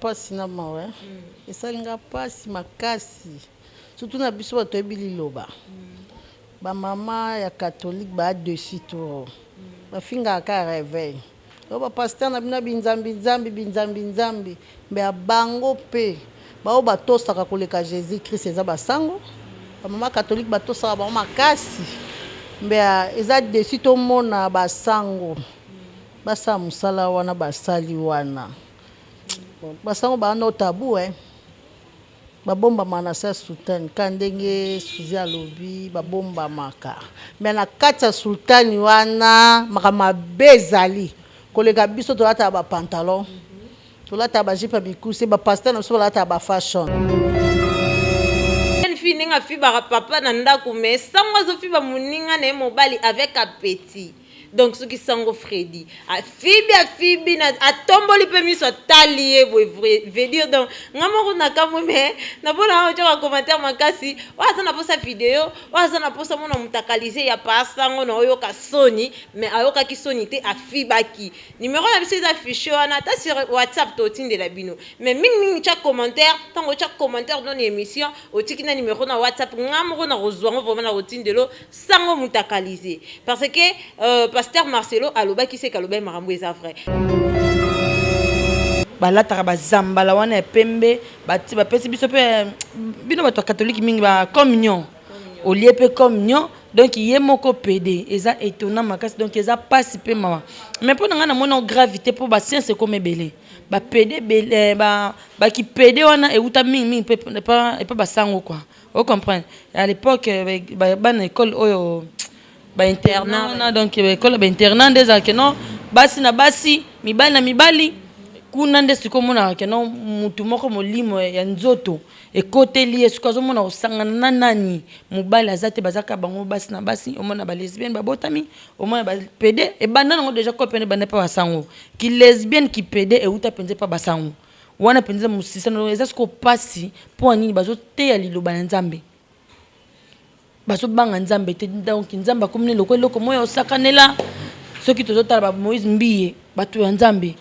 mpasi na mawa eh. mm. esali nga mpasi makasi surtout na biso bato yebi liloba mm. bamama ya katholike baa dessus to mm. bafingaka ka réveil Oyo ba pasteur na bino ya binzambi nzambi binzambi nzambi mais ya bango pe baoyo batosaka koleka Jesus Christ eza ba sango ba mama catholique batosaka bango makasi mais eza desi tomona ba sango basala mosala wana basali wana basango baa no tabou hein Ba bombama na sa sultani ka ndenge suzi alobi ba bombamaka mais na kati ya sultani wana makambo mabe ezali koleka biso tolataka ba pantalon tolataka ba jipe ya mikuse ba pasteur na biso balataka ba fashion fi ndenge afibaka papa na ndako mais sango azofiba moninga na ye mobali avec appetit donc soki sango fredi afibi afibi na atomboli mpe miso atali ye boye vedire donc nga moko nakamwe me napona aa otya bacommentaire makasi oyo aza na posa video oyo aza na posa mona mutakalise ya pa sango na oyoka soni me ayokaki soni te afibaki numero na biso eza affiche wana ata sur whatsapp totindela bino me mingimingi tya commentaire ntango otya commentaire dona emission otiki na numero na whatsapp nga moko nakozwa ngo vraimen nakotindelo sango mutakalize parce que euh, pasteur marcelo alobaki seke alobaki makambo eza vrai balataka bazambala wana ya pembe bapesi biso mpe eh, bino bato ya katolike mingi ba communion olie mpe communion donc ye moko pede eza étonnant makasi donc eza mpasi mpe mawa mais mpo na ngai namona gravité mpo basience ekoma ebele bapede eh, bakipede wana euta mingimingi epa basango kua O comprendre? A l'epoque ba bana ecole oyo ba internat wana donc ecole ba internat nde ezalaka ke non basi na basi, mibali na mibali. Kuna nde sikoyo omonaka ke non mutu moko molimo ya nzoto ekoteli ye sikoyo azomona kosangana na nani? Mobali aza te baza kaka bango basi na basi omona ba lesbienne babotami omona ba pede ebanda nango dejà coop wana ebanda epa ba sango. Ki lesbienne ki pede ewuta penza epa ba sango. Wana mpenza mosisa na eza siko pasi mpo nini bazo teya liloba na Nzambe bazo banga Nzambe te donc Nzambe akomi ne loko eloko moya osakanela soki tozo tala ba Moïse Mbiye bato ya Nzambe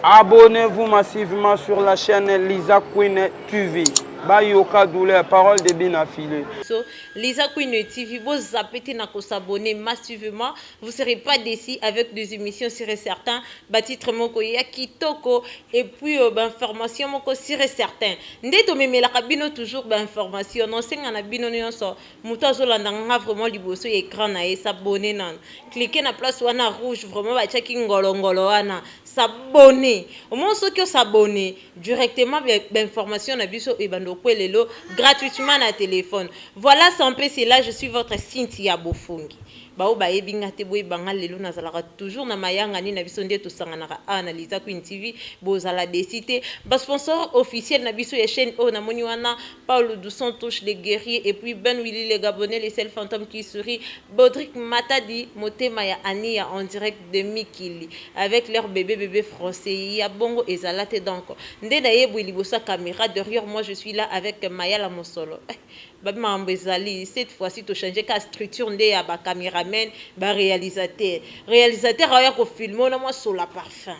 Abonnez-vous massivement sur la chaîne Lisa Queen tu vis bayoka douleur parole de bina file so lisa queen tv bozape te na kosabone massivement vous serez pas déci avec des émissions sur et certain batitre moko ya kitoko et puis euh, bainformation moko sur et certain nde tomemelaka bino toujours bainformation nosenga na bino nyonso moto azolanda nga vraiment liboso ya écran na ye sabone nano clike na place wana rouge vraiment batiaki ngolongolo wana sabone omoi soki osabone directement ba information na biso ebanda okwe lelo gratuitement na telephone voilà sampe c'est là je suis votre Cynthia Bofungi bao bayebi nga te boyeba nga lelo nazalaka toujours na mayangani na biso nde tosanganaka awa na Liza Queen TV bozala desi te ba sponsor officiel na biso ya chaîne oyo namoni wana Paulo dos Santos le guerrier et puis Ben Willy le gabonais le seul fantome qui sourit, Bodrick Matadi motema ya Ania en direct de mikili avec leur bebe bebe français ya bongo ezala te donc nde na ye boye liboso ya camera derrieur moi je suis là avec Mayala Mosolo eh, babi makambo ezali cette fois ci to changer ka structure nde ya ba cameramen ba realisateur realisateur aoya ko filme ona mwa sola parfum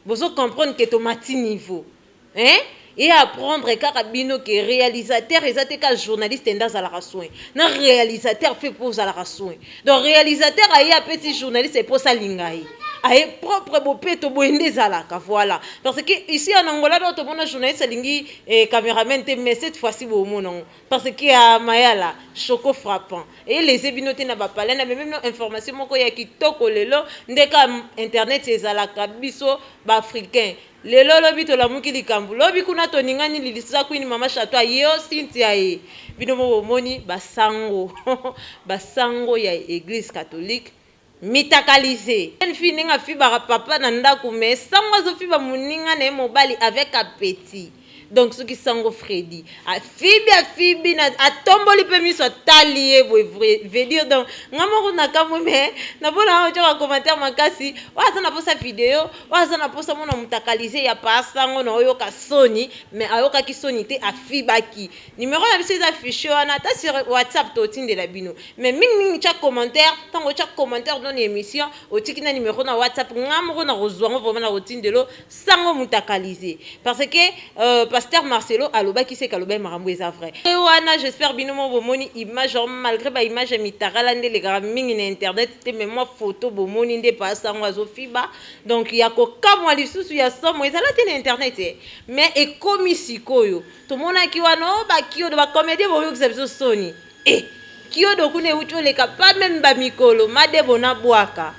bozo comprendre que tomati niveau Hein e apprendre kaka bino ke realisateur eza te ka journaliste nde azalaka soin na realisateur fe mpo ozalaka soin donc realisateur aye apesi journaliste mpo osalinga ye aye propre bopeto boye nde ezalaka voilà parce que ici en angola do tomona journaliste alingi eh, cameraman te mais cette fois-ci bomona yango parce que ya ah, mayala choco frappant eye lese bino te na bapale na bememno information moko ya kitoko lelo nde ka internet ezalaka biso baafricain Lelo lobi tolamuki likambu lobi kuna toningani lilisusa queen mama chateau aye oh Cynthia aye bino moko bomoni ba sango ba sango ya eglise catholique mitakalise jeune fille ndenge afibaka papa na ndaku mais sango azo fiba muninga naye mobali avec appetit Donc soki sango Freddy afibi afibi na atomboli pe miso atali ye boye vrai veut dire donc nga moko nakamwe mais napona awa tyoka commentaire makasi oyo aza na posa video oyo aza na posa mona mutakalize ya pa sango na oyoka soni mais ayokaki soni te afibaki numero na biso eza affiche wana ata sur whatsapp totindela bino mais mingi mingi tya commentaire ntango otya commentaire dans emission otiki na numero na whatsapp nga moko nakozwa ngo vraiment nakotindelo sango mutakalize parce que euh, pasteur Marcelo alobaki se kalobaki makambo eza vrai e wana j'espère bino mo bomoni image or malgré ba image ya mitakala nde elekaka mingi na internet te mais mwa photo bomoni nde pa sango azofiba donc ya kokamwa lisusu ya somo ezala te na internet e mais ekomi sikoyo tomonaki wana o oh, bakiodo bacomédien boyokisa biso soni Eh kiodo kuna ewuti oleka pas meme ba mikolo madebo na bwaka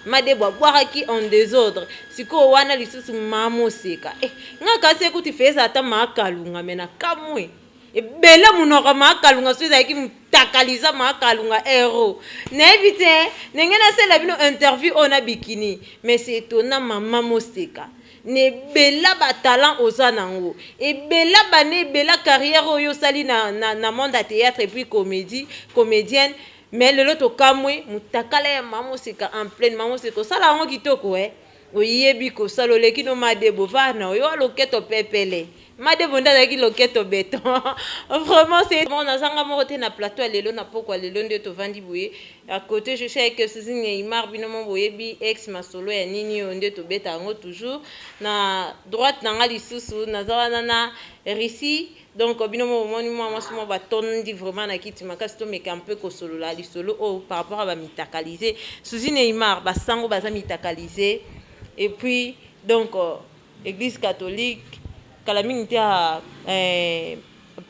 madebo abwakaki en desordre sikoyo wana lisusu mama oseka eh nga kasi ekuti feza ata maa kalunga me na kamwe ebele monoko ya maa kalunga so ezalaki motakaliza maa kalunga hero nayebi te ndenge nasala bino interview oyo na bikini mais c'est étonnant mama moseka na ebela ba talent oza na ngo ebela bana ebela carrière oyo osali na, na, na monde ya theatre epuis comedie comedienne mais lelo tokamwe mutakala ya mama oseka en pleine mama oseka osala yango kitoko eh oyebi kosala oleki no madebo var na oyo aloketo pepele Madebo nde azalaki loketo beton vraiment c'est bon naza nga moko te na plateau ya lelo na pokwa lelo nde tovandi boye à côté je suis avec Suzine Neymar bino mo boyebi ex masolo ya nini oyo nde tobeta yango toujours na droite na nga lisusu naza wana na Russie donc bino mo bomoni mwa mwasi mwa batondi vraiment na kiti makasi tomeka un peu kosolola lisolo oyo par rapport ya bamitakalise Suzine Neymar basango baza mitakalise et puis donc Eglise catholique kala mingi te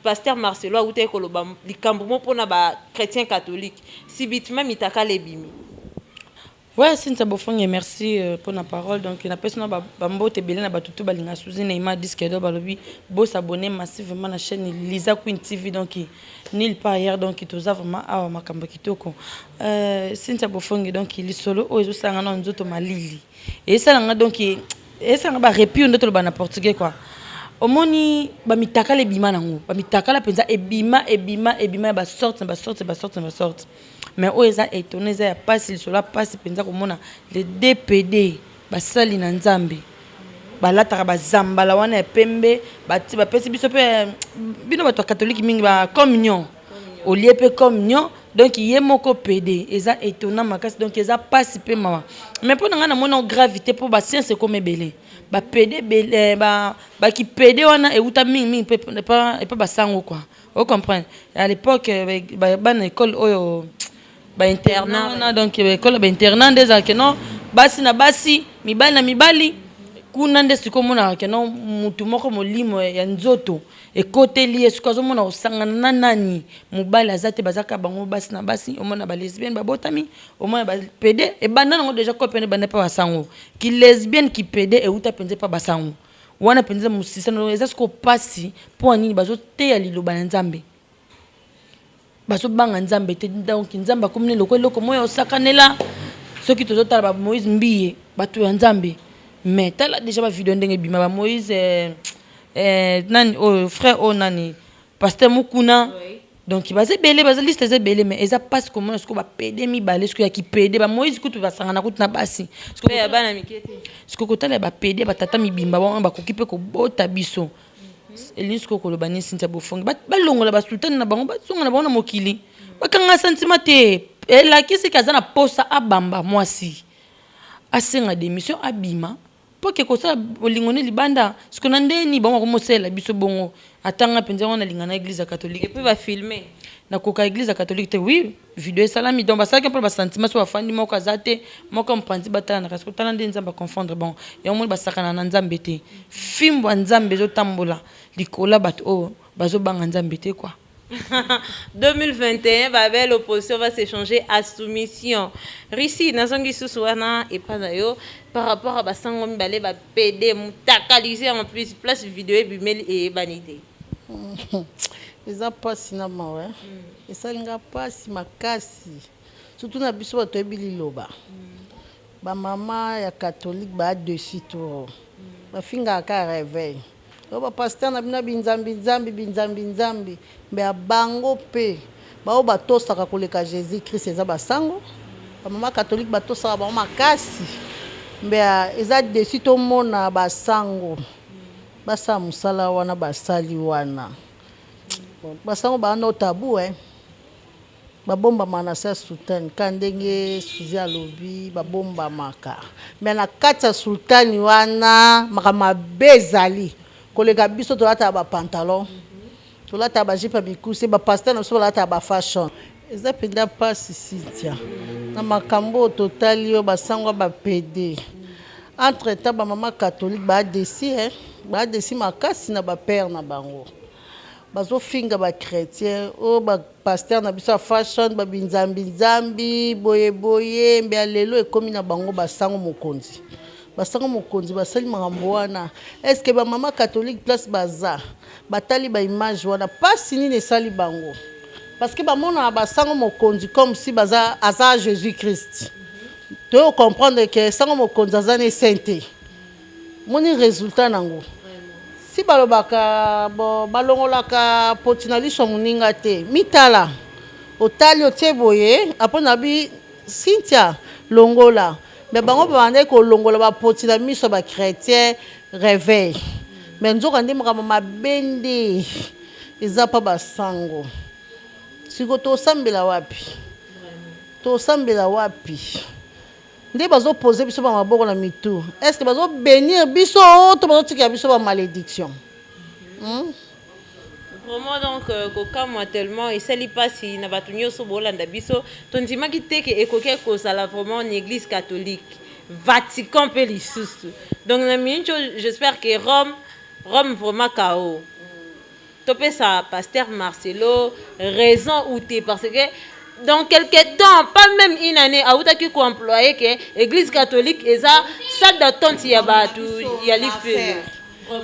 pasteur Marcelo awutaki koloba likambo moko pona ba chretiens catholiques subitement mitakala ebimi. Ouais Cynthia Bofonge merci pona parole donc na pesi na ba mbote ebele na batu tout ba linga Souzy Neymar disque d'or ba lobi bo s'abonner massivement na chaine Liza Queen TV donc nul part ailleurs donc toza vraiment awa makambo kitoko euh Cynthia Bofonge donc lisolo oyo ezo sala nga nanu nzoto malili esala nga donc esala nga ba repio nde toloba na portugais quoi omoni bamitakala ebima nango bamitakala mpenza ebima ebima ebima ya basorte na basorte basorte na basorte mais oyo eza etone eza ya mpasi lisolo ya mpasi mpenza komona le dpd basali na nzambe balataka bazambala wana ya pembe bapesi biso mpe bino bato ya katholike mingi ba communion olie pe comme nyo donc ye moko pede eza etona makasi donc eza pasi pe mawa mais mpo na ngai namoni yango gravité mpo basiance ekoma ebele bapede eh, bakipede wana euta mingimingi epa basango kua ocomprendre à l'époque eh, bana ekole oyo ba internat wana donc euh, ekola ba internat nde ezalaka no basi na basi mibali na mibali kuna nde sikoyo omonaka ke no motu moko molimo ya nzoto ekoteli ye sikoyo azomona kosangana na nani mobali aza te baza kaka bango basi na basi omona ba lesbienne babotami omona ba pede ebanda nango deja kope nde ebanda mpe basango ki lesbienne ki pede euta mpenza mpa basango wana mpenza mosisano eza sikoyo mpasi mpo ya nini bazoteya liloba ya nzambe Bazo banga nzambe te donc nzambe akomi nde lokola eloko moko ya kosakanela soki tozo tala ba moise mbiye batu ya nzambe mais tala dejà ba video ndenge ebima ba moise nani oyo frère oyo nani pasteur mukuna donc baza ebele baza liste eza ebele mais eza pasi komona sikoyo ba pede mibale sikoyo ya ki pede ba moise kutu basangana kutu na basi sikoyo kotala ya ba pede ya ba tata mibimba wana bakoki pe kobota biso Elisko koloba ni Cynthia Bofongi balongola ba sultani na bango bazonga na bango na mokili bakanga sentiment te elakisi ke aza na posa abamba mwasi asenga demission abima mpo ke kosala bolingo ne libanda siko na ndenge nini bango bakomosalela biso bongo atanga mpenza wana alinga na eglise ya catholique epuis bafilme nakoka eglise ya catholique te oui video esalami donc basalaki mpona basentiment so bafandi moko aza te moko mopanzi batalanaka soki otala nde nzambe aconfondre bango yango moni basakana na nzambe te fimbo ya nzambe ezotambola likolo ya bato oyo bazobanga nzambe te kua 2021 babe l'opposition va s'échanger à soumission russie nazongi susu wana epa na yo par rapport ya basango mibale bapede mutakalise en plus place video ebimeli eyebani te eza mpasi na mawa hmm. Esali nga pasi makasi surtout na biso batu toyebi liloba ba mama ya catholique ba dessus trop ba fingaka ka reveil oyo ba pasteur na bino ya binzambi nzambi binzambi nzambi mais ya bango pe ba oyo ba tosaka koleka Jesus Christ eza ba sango ba mama catholique ba tosaka bango makasi mais ya eza dessus tomona ba sango basala musala wana basali wana Basango ba no tabou hein ba bombama na se ya soutane ka ndenge souzi alobi ba bombamaka mais na kati ya soutane wana makambo mabe ezali koleka biso tolataka ba pantalon tolataka ba jupe ya mikuse ba pasteur na biso balataka ba fashion Eza penda pasi Cynthia. Na makambo totali yo basangwa ba pede. Entre temps ba mama catholique ba desi hein. Ba desi makasi na ba père na bango. Bazo finga ba chretien. Oh ba pasteur na biso ya fashion ba binzambi nzambi boye boye mbe alelo ekomi na bango basango mokonzi. Basango mokonzi basali makambo wana. Est-ce que ba mama catholique place baza? Batali ba images wana pasi nini esali bango? Parce que bamonaka ba sango mokonzi comme si baza aza Jesus Christ. Toye ko comprendre que sango mokonzi aza ne saint te. Moni resultat nango. Si balobaka bo balongolaka poti na liso ya moninga te. Mitala otali otie boye apres nabi Cynthia longola Mais bango babandaki kolongola ba poti na miso ya ba chretiens reveil mais nzoka nde makambo mabe nde eza pa ba sango siko tosambela wapi tosambela wapi nde bazo pose biso ba maboko na mitu est ce que bazo benir biso to bazo tikela biso ba malediction hmm? Vraiment donc euh, kokamwa tellement esali pasi na bato nyonso bolanda biso tondimaki te ke ekoki kozala vraiment na église catholique Vatican mpe lisusu donc na mincho j'espère que Rome Rome vraiment kao topesa pasteur Marcelo raison ou te parce que dans quelque temps pas même une année awutaki koemploye ke église catholique eza salle d'attente ya bato ya lifelo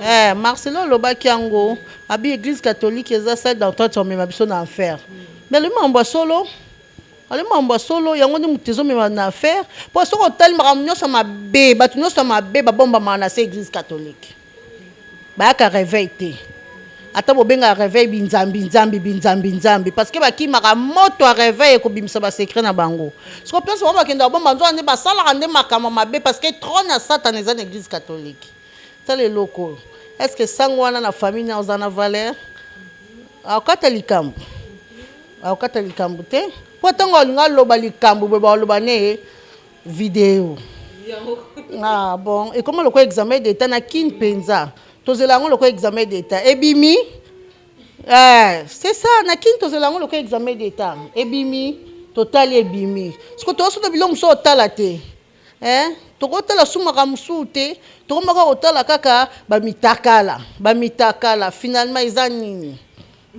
Eh, Marcelo alobaki yango abi eglise catholique eza salle d'entente omema biso na enfer mais alobi makambo ya solo alobi makambo ya solo yango nde moto ezomema na enfer mpo soki otali makambo nyonso mabe bato nyonso mabe babombamaka na se eglise catholique bayaka réveil te ata bobengaka réveil binzambi nzambi binzambi nzambi parce que bakimaka moto ya réveil ekobimisa basecret na bango soko place bango bakendaka bomba nzoka nde basalaka nde makambo mabe parce que trone ya satana eza na eglise catholique Tala eloko oyo est ce que sango wana na famille na oza na valeur akokata likambo akokata likambo te mpo ntango alingi aloba likambo boye baoloba ne ye video ah, bon ekoma lokola examen d'état na kin mpenza tozela yango lokola examen d'état ebimi eh, c'est ça na kin tozela yango lokola examen d'état ebimi totali ebimi siko toyosoto biloko mosusu otala te Eh tokotala su makambo mosusu te tokomaka kotala kaka bamitakala bamitakala finalement eza nini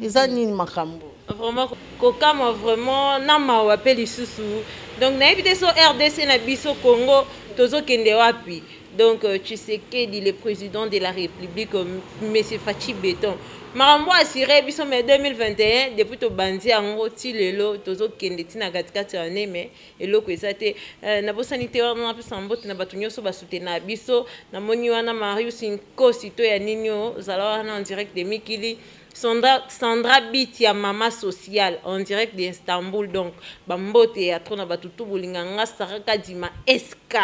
eza nini makambo vraiment kokamwa vraiment na mawa mpe lisusu donc nayebi te so rdc na biso congo tozokende wapi donc euh, tshisekedi le président de la république euh, monsieur fachi beton makambo asire biso mai 2021 depuis tobanzi yango ti lelo tozokende ntina katikati ya ne mai Eloko eza te eh, nabosani te wana napesa mbote na bato nyonso basutena biso namoni wana marius nkosi to ya nini oyo ozala wana en direct de mikili Sandra, Sandra Bit ya mama social en direct de Istanbul donc bambote ya trop na bato tu bolinga nga Sarah Kadima SK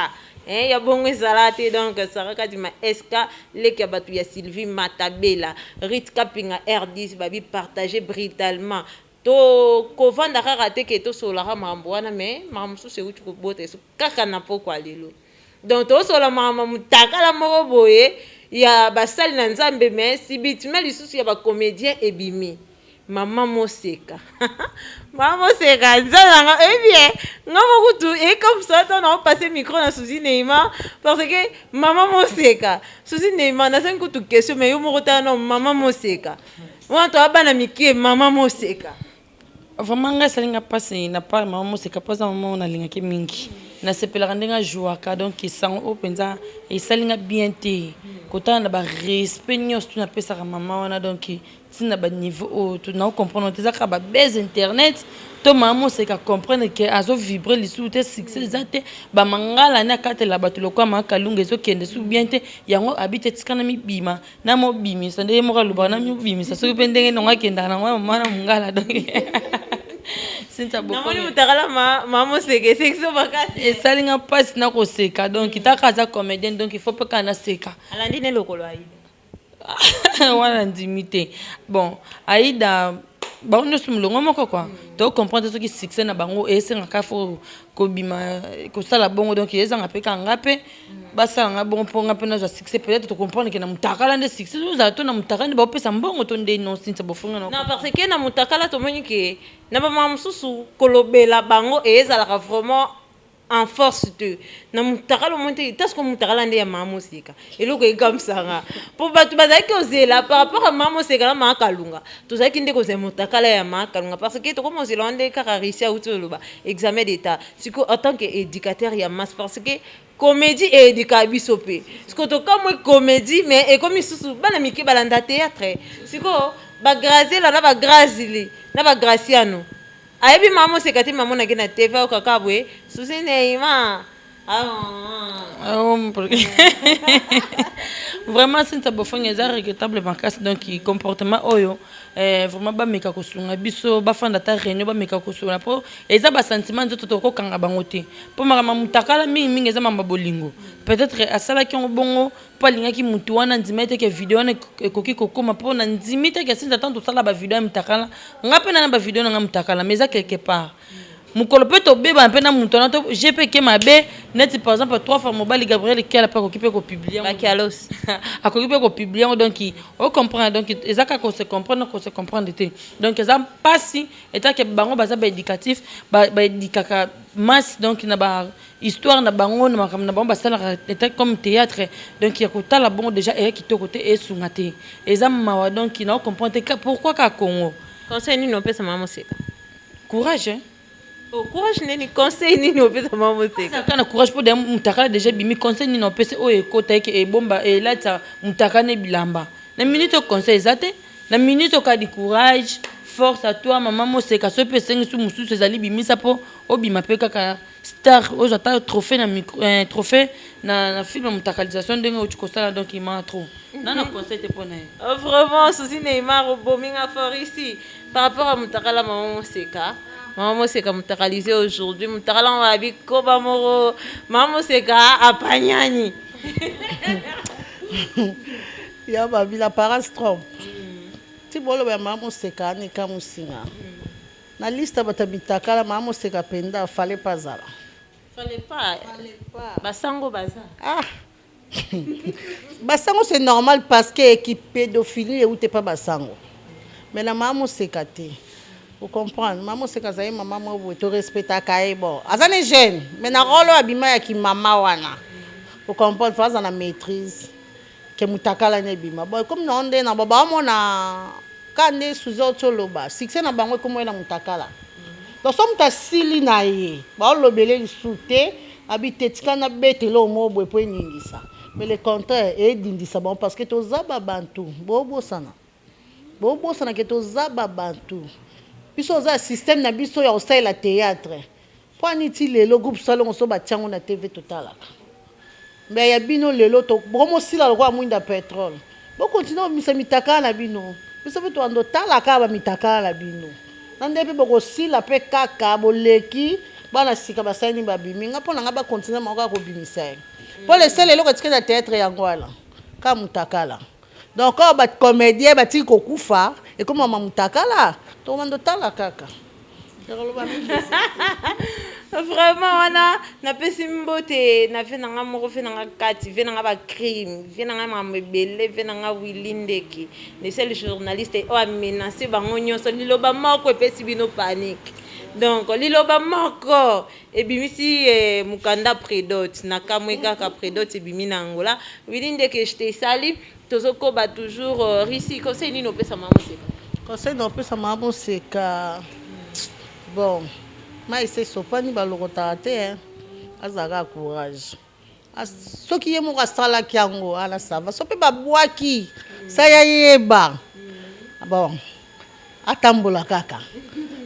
eh, ya bongo ezala te donc Sarah Kadima SK leki ya bato ya Sylvie Matabela Rit Kapinga R10 babi partage brutalement To kovanda kaka te ke to solola kaka makambo wana mais makambo mosusu ewuti kobota esu kaka na pokwa lelo. Donc to solola makambo ya mutakala moko boye ya basali na Nzambe mais subitement lisusu ya ba comediens ebimi. Maman Moseka Maman Moseka Nzambe na nga oyebi ye nga mo kutu e comme ça tant na passer micro na Souzy Neymar parce que Maman Moseka Souzy Neymar na zangi kutu question mais yo moko tala na Maman Moseka wana toya bana mike mama moseka vraiment ngai esali nga mpasi na part mama moseka mpo aza mama oyo nalingaki mingi nasepelaka ndenge ajouaka donc esango oyo mpenza esali nga bien te kotala na barespect nyonso tu napesaka mama wana donc ntina baniveau oyo tu nao comprendre te eza kaka babase internet to mama moseka comprendre ke azovibre lisusu te succès eza te bamangala ne akatela bato lokola makalunga ezokende su bien te yango abi te etikana mibima na mo bimisa nde ye moko alobaka na mio bimisa soki mpe ndenge nongo akendaka nango ya mama na mongala donc sinta namoni mutakala mama moseka esekiso makasi esali nga mpasi na koseka donc mm. taka aza comédien donc il faut mpe kaka naseka alandi ne lokolo aida wana ndimi te bon aida bango nyonso molongo moko kua to comprendre soki succès na bango esengaka fo kobima kosala bongo donc ezanga mpe kaka nga mpe basala nga bongo mpo nga mpe nazwa succès peut-être tocomprendre ke na motakala nde succès ozala to na motakala nde baopesa mbongo to nde non sinsa bofunga na parce que na motakala tomoni ke na bamama mosusu kolobela bango ezalaka vraiment en force te na mutakala omoni te ta siko mutakala nde ya mama moseka eloko ekamwisa nga mpo bato bazalaki kozela par rapport ya mama moseka na mama kalunga tozalaki nde kozela mutakala ya mama kalunga parce que tokomi kozela wana nde kaka russie auti oloba examen d'état siko en tant que éducateur ya masse parce que comédie eedika biso mpe siko tokamwe comédie mais ekomi susu bana mike balanda théâtre siko bagraziela na bagrazili na bagraciano Ayebi maman oseka te maman nake na TV oka kabwe souci Neymar. Ah, ah, ah. vraiment sinta bofongi eza regrettable makasi donc comportement oyo eh, vraiment bameka kosunga biso bafanda ata réunion bameka kosunga mpo eza basentiment nzoto tokokanga bango te mpo makambo mutakala mingimingi eza mamba bolingo peut-être asalaki yango bongo mpo alingaki motu wana andimaki te ke video wana ekoki kokoma mpo na ndimi te ke sinza ntango tosala bavideo ya mitakala nga mpe nana bavideo na nga mitakala mais eza quelque part mokolo mpe tobebana mpe na moto wana to je mpe ke mabe neti par exemple trois fois mobali gabriel kiala mpe akoki mpe kopiblie akoki mpe kopiblie yango donc ocomprendre donc eza kaka kose comprendre kose comprendre te donc eza mpasi etake bango baza baéducatif baédikaka masse donc na ba histoire na bango na makambo na bango basalaka etat comme théâtre donc ya kotala bongo déjà eya kitoko te esunga te eza mawa donc na comprendre te pourquoi ka Congo conseil nini opesa mama moseka courage hein? Oh, courage nini conseil nini opesa mama moseka kana courage mpo mutakala déjà bimi conseil nini opesa oyo ekota eke ebomba elatisa mutaka ne bilamba na minute oyo conseil eza te na minute okadi courage force à toi mama moseka soki mpe esengisi mosusu ezali bimisa mpo obima mpe kaka Star ozo ata trophee na micro eh, trophee na na film mutakalisation ndenge oti kosala donc il m'a trop na na conseil te pona ye oh, vraiment souci Neymar obomi nga fort ici par rapport à mutakala maman moseka maman moseka mutakalise aujourd'hui mutakala ngo abi koba moko maman moseka apanyani ya babila parastrom ti boloba ya maman moseka anika musinga mm. Na liste ya bato ya mitakala mama moseka penda fallait pas azala. Fallait pas. Fallait pas. Ba sango baza. Ah. ba sango c'est normal parce que qui pédophilie ou t'es pas ba sango. Mais na mama moseka te. Vous comprenez Mama moseka azali mama moko boye to respectaka ye bon. Aza ne jeune mais na role oyo abima ya ki mama wana. Vous comprenez faut aza na maîtrise. ke mutakala nde ebima bon ekomi na yo nde na baba omona ka nde suze oti oloba succès na bango ekomi na mutakala donc so moto asili na ye baolobele lisusu te abi te tika na betele oyo moko boye mpo eningisa mais le contraire edindisa bango parce que toza babantu bobosana Bobosana ke toza ba bantu biso oza ya système na biso ya kosalela theatre pwani ti lelo groupe salongo so batia ngo na TV totalaka mais ya bino lelo to bokomo sila lokola mwinda petrole bo continue komisa mitakala na bino biso pe toando tala kaka ba mitakala na bino na nde pe bokosila pe kaka boleki bana sika basani babimi nga pona nga ba continue mako kaka kobimisa ye po lesele eloko etikali na theatre yango wana kaka mutakala Donc oyo ba comedien batiki kokufa ekomama mutakala tokobanda otala kaka vraiment wana napesi mbote na vie na ngai moko vie na ngai kati vie na ngai bacrime vie na ngai makambo ebele vie na ngai willi ndeki le seul journaliste oyo amenace bango nyonso liloba moko epesi bino panique donc liloba moko Ebimisi mukanda predote na kamue kaka predote ebimi na Angola Willy ndeke je te salut tozo koba toujours Russie conseil nini opesa mama moseka conseil na opesa mama moseka bon mai se sopani balokotaka te azalaka courage Ah, soki ye moko asalaki yango wana sava so mpe babwaki sa ya yeba ah, bon atambola kaka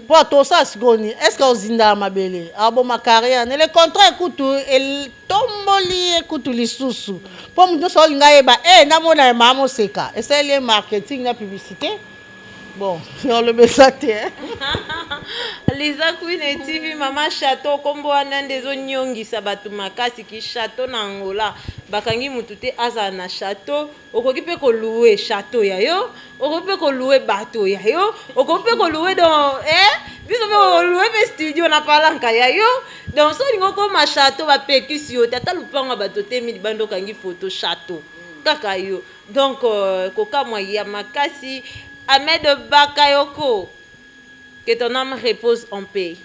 mpo atosala sikoyo nini estce ozindaka mabele aboma ah, carrière ne le contraire kutu etomboli ye kutu lisusu mpo moto nyonso olinga yeba e eh, namona ye maa moseka esaleli ye marketing na publicité Bon, oloba eza te hein. Liza Queen et TV Mama Chateau kombo wana nde ezo nyongisa bato makasi ki chateau na Angola bakangi mutu te azala na chateau okoki pe ko louer chateau ya yo okoki pe ko louer bateau ya yo okoki pe ko louer dans eh biso pe ko louer pe studio na palanka ya yo donc so olingi okoma chateau ba pekisi yo te ata lupango ya bato otemi libanda okangi photo chateau kaka yo Donc kokamwa ya makasi. Ahmed Bakayoko que ton ame repose en paix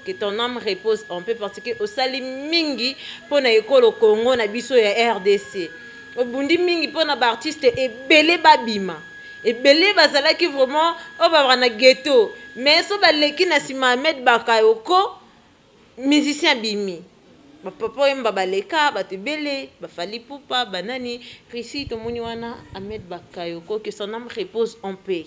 que ton ame repose en paix parce que osali mingi pona ekolo Congo na biso ya rdc obundi mingi pona ba artistes ebele babima ebele bazalaki vraiment oyo babaka na ghetto mais so baleki na sima Ahmed Bakayoko musicien abimi ba papa wemba baleka batu ebele ba fally ipupa ba nani Chrissy tomoni wana Ahmed bakayoko que son ame repose en paix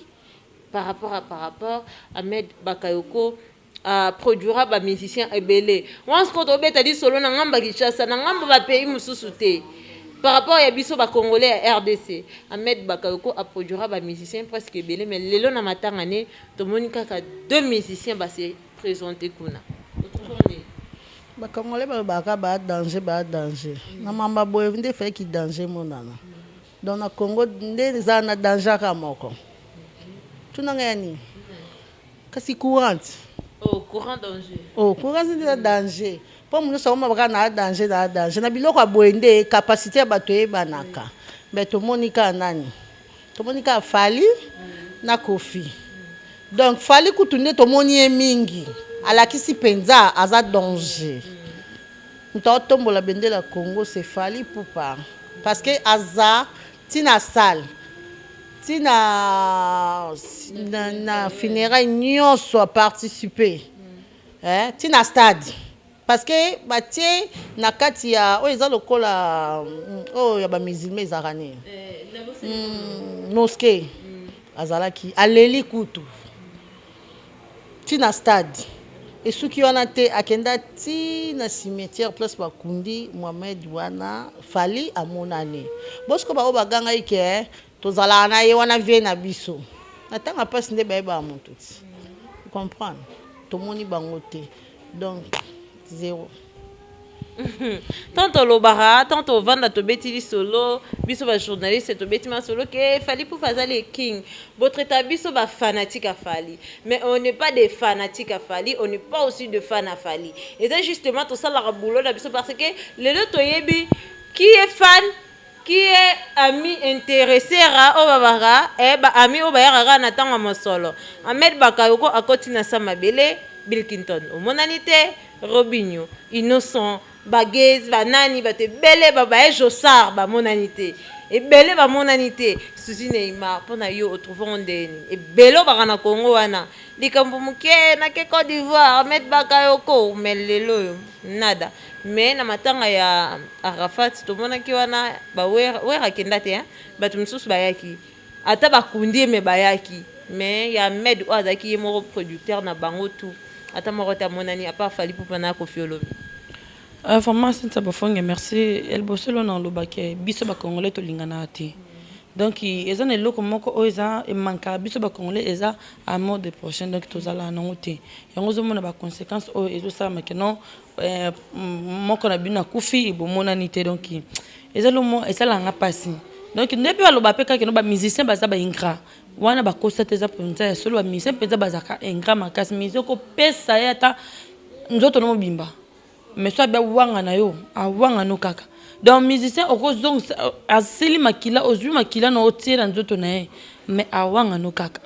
par rapport à par rapport Ahmed bakayoko a produira ba musicien ebele once ko tobeta lisolo na ngamba Kinshasa na ngamba ba pays mosusu te par rapport ya biso ba congolais ya rdc Ahmed bakayoko a produira ba musicien presque ebele mais lelo na matanga ne tomoni kaka deux musicien base presente kuna otuko nde. Ba congolais balobaka kaka ba danger ba danger na mambo ya boye nde fallait ki danger emonana donc na congo nde ezala na danger kaka moko tuna ngai ya nini kasi courante oh courant danger oh courante nde eza danger mpo moto nyonso akomaka kaka na danger na danger na biloko ya boye nde capacité ya bato eyebanaka me tomoni kaka nani Tomoni kaka Fally na Koffi. Donc Fally kutu nde tomoni ye mingi. Alakisi penza aza danger. Moto aotombola bendela Congo c'est Fally Ipupa. Parce que aza tina salle tina na, na funérailles nyonso a participer. Eh, tina stade. Parce que batie na kati ya oyo eza lokola oyo ya ba musulmans ezalaka nini hmm, mosquee azalaki aleli kutu ti na stade esuki wana te akenda ti na cimetière place bakundi mohamed wana fali amonani bosiko baoyo bagangaki ke Tozalaka na ye wana vie na biso. Na ntango ya mpasi nde bayebaka moto ti. Comprendre? Tomoni bango te. Donc, zero. tant olobaka tant ovanda tobeti lisolo biso bajournaliste tobeti masolo ke fali pufa aza le king botraita biso bafanatique ya fali mais on n'est pas des fanatiques ya fali on n'est pas aussi de fan ya fali eza justement tosalaka boulot na biso parce que lelo toyebi qui est fan Qui est ami interesser oyo ba baka eh ba amis oyo bayaka kaka na tango ya mosolo Ahmed Bakayoko akoti na sa mabele Bilkinton omonani te Robinho Innocent ba Gay's ba nani batu ebele ba baye Jossart ba monani te ebele ba monani te Souzy Neymar po na yo o trouver ngo ndenge nini ebele oyo baka na Congo wana likambo muke na ke Cote d'Ivoire Ahmed Bakayoko mais lelo oyo nada Mais na matanga ya Arafat tomonaki wana ba werra, werra akenda te hein, batu misusu bayaki ata ba kundi ye mais bayaki mais ya Ahmed oyo azalaki ye moko producteur na bango tout ata moko te amonani à part Fally Ipupa na Koffi Olomide. Euh, vraiment Cynthia Bofonge merci ya liboso elona oloba ke biso ba congolais tolinganaka te donc eza na eloko moko oyo eza emankaka biso ba congolais eza amour de prochain donc tozalaka nango te yango ozomona ba conséquences oyo ezosalama ke non eh, moko na bino akufi bomonani te donc eza lomo esalaka nga mpasi donc nde mpe baloba mpe kaka no bamusicien baza baingra wana bakosa te eza mpenza ya solo bamusicien mpenza bazalaka ingra makasi musicien kopesa ye ata nzoto no mobimba mais so abi awanga na yo awanga no kaka donc musicien okozongisa asili makila ozwi makila na otie na nzoto na ye mais awanga no kaka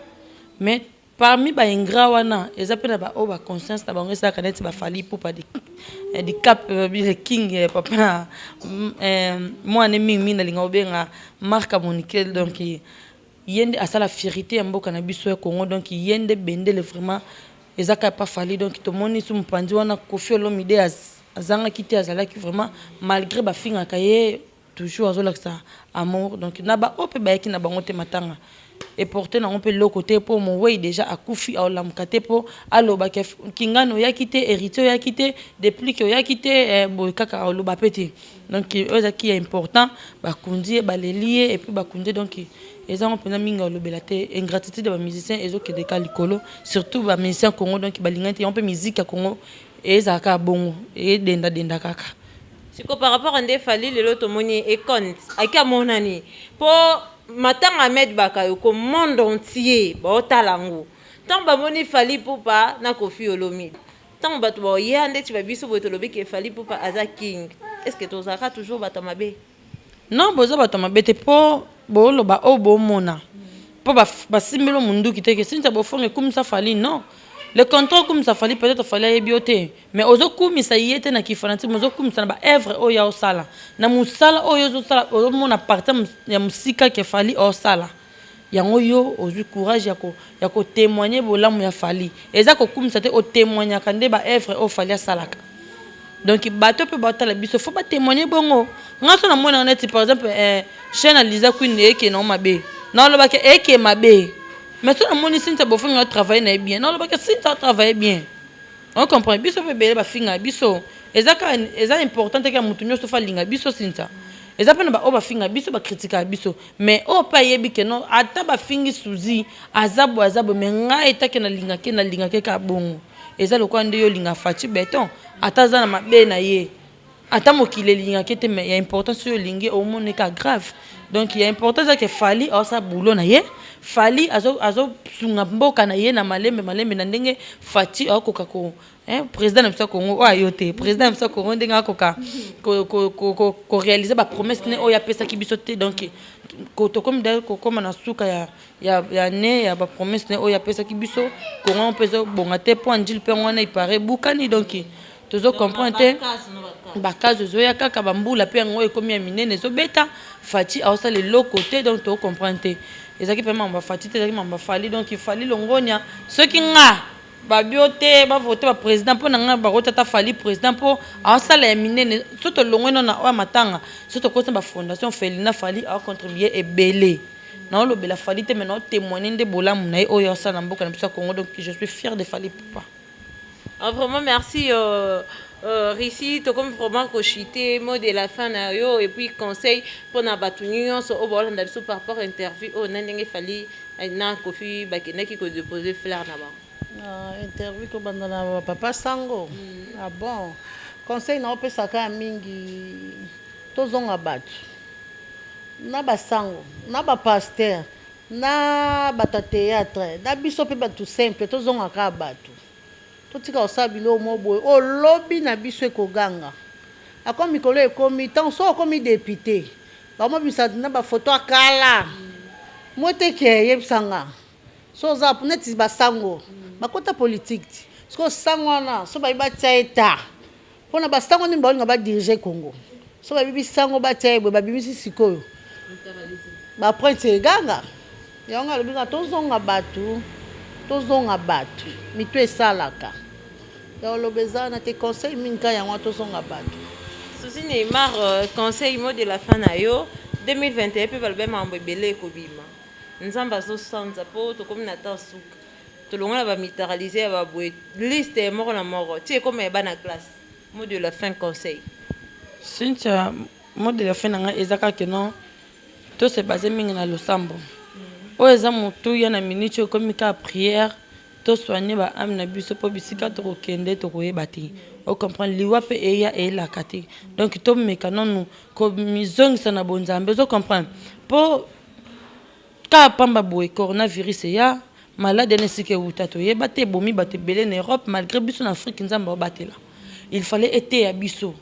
mais Parmi ba ingrat wana eza pe na ba oyo ba conscience na bango esalaka neti ba Fally Ipupa di eh, di cap eh, bi le king eh, papa na mm, eh, mwana mingi mingi nalinga obenga Marc Monikel donc eh, ye nde asala fierite ya mboka na biso ya Congo donc ye nde bendele vraiment eza kaka pa Fally donc tomoni su mopanzi wana Koffi Olomide az- azangaki te azalaki vraiment malgré bafingaka ye Toujours azolakisa amour donc na ba oyo pe bayaki na bango te matanga eporte nango pe loko te po moweyi deja akufi aolamuka te po aloba ke kingani oyaki te heritier oyaki te deplick oyaki te boye kaka aoloba pe te donc oyo eza ki ya important bakundi ye baleli ye epuis bakundi ye donc eza yango mpenza mingi alobela te ingratitude ya ba musicien ezokende ka likolo surtout ba musicien congo donc balingani te yango mpe miziki ya congo ezala kaka bongo edenda denda kaka Sikoyo par rapport nde Fally lelo tomoni econte aki amonani po matanga Ahmed Bakayoko monde entier baotala yango ntango bamoni Fally Ipupa na Koffi Olomide ntango bato baoya ndeti ba biso boye tolobi ke Fally Ipupa aza king est ce que tozalaka toujours bato ya mabe? Non boza bato ya mabe te po booloba oyo bomona po basimbi bino munduki te ke Cynthia Bofonge kumisa Fally non le contraire okumisa Fally peut etre Fally ayebi yo te. Mais ozo kumisa ye te na ki fanatique, mais ozo kumisa na ba œuvres oyo ya osala. Na musala oyo ozo sala ozo mona partie ya musika que Fally osala. Yango yo ozui courage ya ko ya ko temoigner bolamu ya Fally. Eza ko kumisa te o temoignaka nde ba œuvres oyo Fally asalaka. Donc bato pe bao tala biso faut ba temoigner bongo. Nga so na mona nga neti par exemple eh, chaine ya Liza Queen eye ke na mabe. Na loba ke eye ke mabe. Mais so na moni Cynthia Bofongo a travailler na ye bien. Na loba ke Cynthia a travailler bien. On comprend biso pe bele ba finga biso eza ka eza important te ke mutu nyoso fa linga biso sinza eza pe na ba oyo ba finga biso ba critika biso mais oyo pe ayebi ke non ata ba fingi souzi aza boye aza boye mais ngai eta ke na linga ke na linga ke ka bongo eza lokola nde yo olinga Fatshi beton ata aza na mabe na ye Ata mokili elingaki te mais ya important soki olingi omona eka grave donc ya important eza ke Fally aosala boulot na ye Fally azo azo sunga mboka na ye na malembe malembe na ndenge Fatshi akoka ko hein president na biso ya Congo oyo ayo te president na biso ya Congo ndenge akoka ko ko ko ko ko realiser ba promesse ne oyo apesaki biso te donc ko tokomi d'ailleurs kokoma na suka ya ya ya ne ya ba promesse ne oyo apesaki biso Congo yango mpe ezo bonga te mpo Anjil mpe yango wana il parait ebukani donc tozo comprendre te bakazo ezoya kaka bambula mpe yango ekomi ya minene ezobeta fati aosala eloko te donc toko comprendre te ezalaki mpe mambo ya fati te ezalaki mambo ya fali donc ifali longonia soki nga babio te bavote baprésident mpo na ngai bakoti ata fali président mpo aosala ya minene so tolongwe no na oyo matanga so tokoti na bafondation felina fali aocontribue ebele naolobela fali te me naotemoigne nde bolamu na ye oyo aosala na mboka na biso ya congo donc je suis fier de fali poupa Ah vraiment merci euh, euh, Russie tokomi vraiment ko chuter mot de la fin na yo et puis conseil pona batu nyonso oyo baolanda biso par rapport interview oyo na ndenge fali eh, na Kofi bakendaki ko déposer fleur na bango. Ah, interview tobanda na ba papa sango mm. ah bon conseil naopesaka ya mingi tozonga bato na basango na bapaster Na batu ya theatre na biso pe batu simple tozonga kaka batu totika kosala biloko moko boye oyo lobi na biso ekoganga ako mikolo ekomi tango soki okomi depute bakomobimisa na ba photo ya kala mwete ke yebisa nga so oza neti ba sango bakota politique ti sikoyo sango wana so baye batia ye ta Pona ba sango nini baolinga ba dirige Congo soki babibi sango batia ye boye babimisi sikoyo ba prince eganga yango alobi kaka tozonga batu tozonga batu mitu esalaka ya oloba eza wana te conseil mingi ka yango tozonga batu Souci Neymar euh, conseil mot de la fin na yo 2021 pe balobi makambo ebele ekobima nzambe azosanza po tokomi na temps suka Tolongola ba militariser ya ba boye liste moko na moko ti ekoma ya bana classe. Mot de la fin conseil. Cynthia mot de la fin na ngai eza kaka que non to se baser mingi na losambo oyo eza motuya na minute oyo ekomi kaka prière to soigner ba ame na biso mpo bisika tokokende tokoyeba te o comprendre liwa mpe eya eyelaka te donc tomeka nanu komizongisa na bonzambe ozo comprendre mpo Cas pamba boye coronavirus eya, malade wana esika ewuta toyeba te, ebomi batu ebele na Europe malgre biso na Afrique Nzambe abatela il fallait eteya biso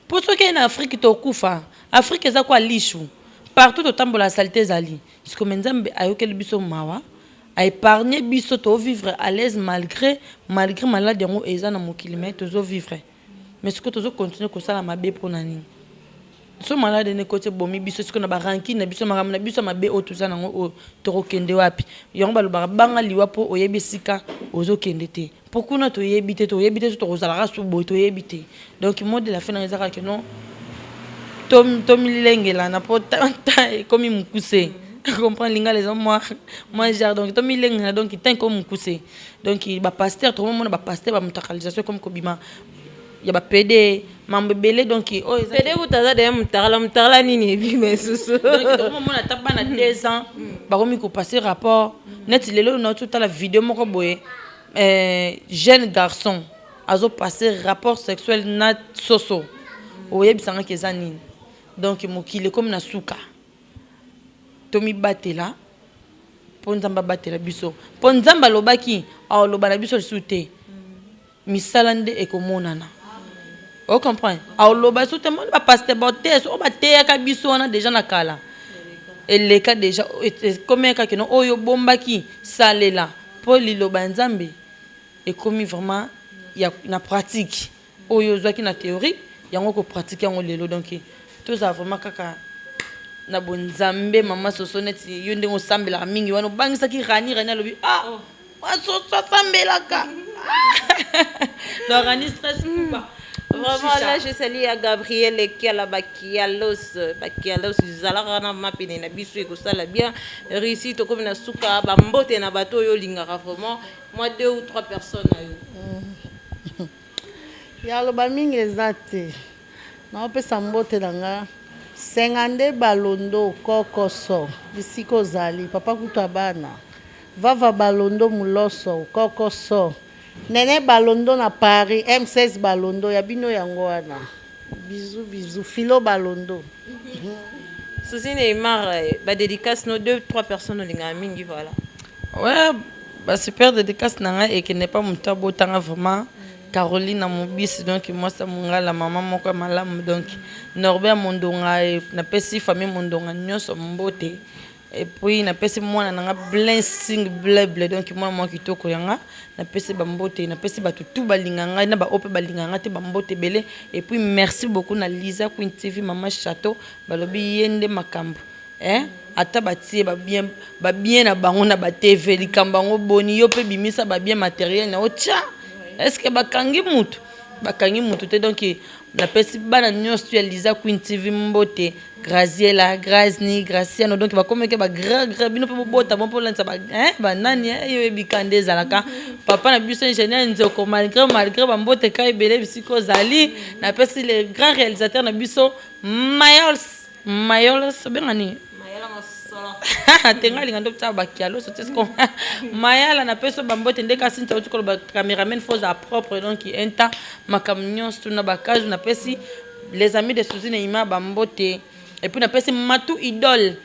po soki eye na Afrique tokufa, Afrique eza quoi lisu partout totambola salite ezali sikoyo mais Nzambe ayokeli biso mawa a epargne biso to vivre à l'aise malgre malgre malade yango eza na mokili mais tozo vivre. Mais sikoyo tozo continuer kosala mabe pona nini? Biso malade nde ekoti ebomi biso sikoyo na ba rancune na biso makambo na biso ya mabe oyo toza nango oyo tokokende wapi? Yango balobaka banga liwa po oyebi esika ozokende te po kuna toyebi te toyebi te soki tokozala kaka susu boye toyebi te donc mot de la fin na eza kaka keno tomilengelana po temps ekomi mokuse comprendre lingala eza mwa mwa genre donc tomilengelana donc temps ekomi mokuse donc ba pasteur tokomona ba pasteur ba mutakalisation ekomi kobima ya ba pede mambo ebele donc oyo eza pede kuta aza deya mutakala mutakala nini ebima esusu tokomona ata bana mm. deux ans mm. bakomi kopase rapport neti lelo oyo nauti otala video moko boye euh, jeune garçon azopase rapport sexuel na soso oyebisangaki eza nini donc mokili ekomi na suka Tomibatela po Nzambe abatela biso. Po Nzambe alobaki, Akoloba na biso lisusu te. Misala nde ekomonana. O comprendre? Akoloba lisusu te. Moni ba pasteur baoteye soki bateyaka biso wana deja na kala. Eleka deja ekomi kaka no oyo bombaki salela po liloba ya Nzambe ekomi vraiment ya na pratique. Oyo ozwaki na theorie yango oko pratique yango lelo donc tozala vraiment kaka na bo nzambe maman soso neti yo ndenge osambelaka mingi wana obangisaki rani rani alobi ah maman soso asambelaka donc rani stress kuba Vraiment, là, je salue à Gabriel et Kiala Bakialos. Bakialos, zalaka na mapine na biso ekosala bien. Réussi, tokomi na suka, ba mbote na bato oyo lingaka vraiment. Mwa deux ou trois personnes na yo. Ya loba mingi eza te. Nao pesa mbote na nga. Senga nde balondo kokoso bisika ozali papa kutu ya bana vava balondo muloso kokoso nene balondo na paris m16 balondo ya bino yango wana Bisous bisous philo balondo. Souci Neymar ba dedicace no deux trois personnes olingaka mingi voilà. Ouais ba super dedicace na ngai ekende pa moto abota nga vraiment Caroline na mobisi donc mwasi ya mongala mama moko ya malamu donc Norbert Mondonga napesi famille Mondonga nyonso mbote Et puis na pesi mwana nanga blessing bleble donc mwana mwa kitoko yanga na pesi ba mbote na pesi batu tout balinga ngai na ba ope balinga ngai te ba mbote belé et puis merci beaucoup na Lisa Queen TV maman Chateau balobi yende makambo hein ata batie ba bien ba bien na bango na ba TV likambo yango boni yo pe bimisa ba bien matériel na otia est-ce que bakangi mutu bakangi mutu te donc Napesi bana nionso ya Liza Queen TV mbote, Graziella, Grazni, Graciano, donc bakomi ke ba grand grand, bino pe bobota bon polandisa ba hein ba nani hein, yo yebi ka nde ezalaka. Papa na biso ingénieur Nzoko, malgré malgré ba mbote ka ebele bisika ozali, napesi le grand réalisateur na biso Miles Mayolos obenga nini? Mayala mosolo. te nga linga ndopesa bakialo so tesko. Mayala na peso bambote nde kasi nta uti koloba cameraman faut za propre donc enta makam nyonso tuna bakazu na pesi les amis de Suzine Ima bambote et puis na pesi Matou Idole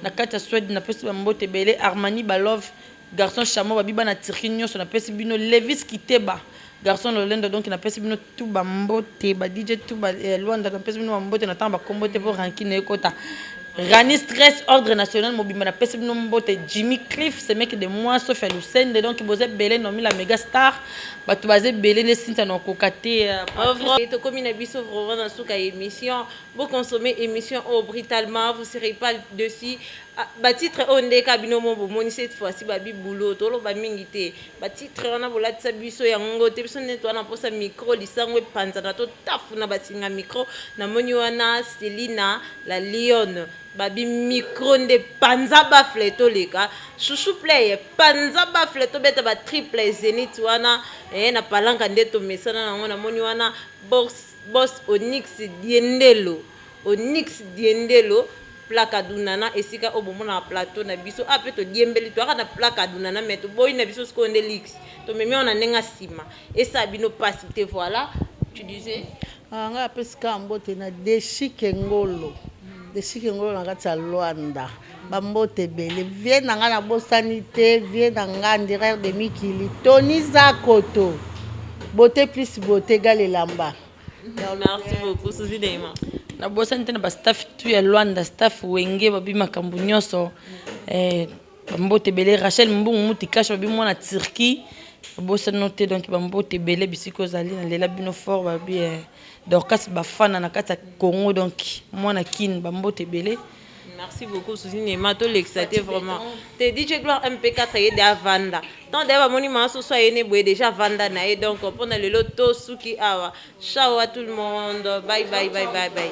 na kati ya Sweden na pesi bambote bele Armani Balove Garçon charmant babi bana Turquie nioso na pesi bino Levis kiteba garçon lolendo donc na pesi bino tout ba mbote ba DJ tout ba eh, Luanda na pesi bino ba mbote na tanga ba kombo te po rancune ekota Rani stress ordre national mobimba na pesi bino mbote Jimmy Cliff c'est mec de moi sauf à Lucende donc boze belé nomi la mega star bato baze belé ne sinta na koka te euh, tokomi na biso vraiment na suka émission bo consommer émission oh brutalement vous serez pas dessus Ah ba titre oyo nde ka bino mo bomoni cette fois ci ba bi boulot toloba mingi te ba titre wana bolatisa biso yango te biso nde toa na posa micro lisango epanzana totafuna basinga micro namoni wana selina la lionne babi micro nde panza bafle toleka chouchou play panza bafle tobeta ba triple zenith wana eh, na palanka nde tomesana nango namoni wana bos, bos onyx diendelo Onyx Diendelo Placadunana esika oyo bomonaka plateau na biso awa mpe todiembeli toyaka na Placadunana mais toboyi na biso sikoyo nde Lix tomemi yango na ndenge ya nsima esala bino mpasi te voilà tu disais Ah, ngai apesi kaka mbote na Deshike Ngolo. Deshike Ngolo na kati ya Luanda. Ba mbote ebele. Vieux na ngai na bosani te, vieux na ngai Ndirer de Mikili, Tony Zakoto. Beaute plus beaute égale elamba. Merci beaucoup, Suzy Dema. nabosani te na bastaff tu ya luanda staff wenge babi makambo nyonso eh, bambote ebele rachel mbungu mutikasha babi mwana turquie nabosani te donc bambote ebele bisika ozali nalela bino fort babi eh, dorcas bafana na kati ya congo donc mwana kin bambote ebele Merci beaucoup Suzy Nema to lekisa te vraiment. Te DJ Gloire MP4 ye de avanda. Tant d'ailleurs amoni ma soso ye ne boye déjà avanda na ye donc pona lelo to suki awa. Ciao à tout le monde. Bye bye bye bye bye.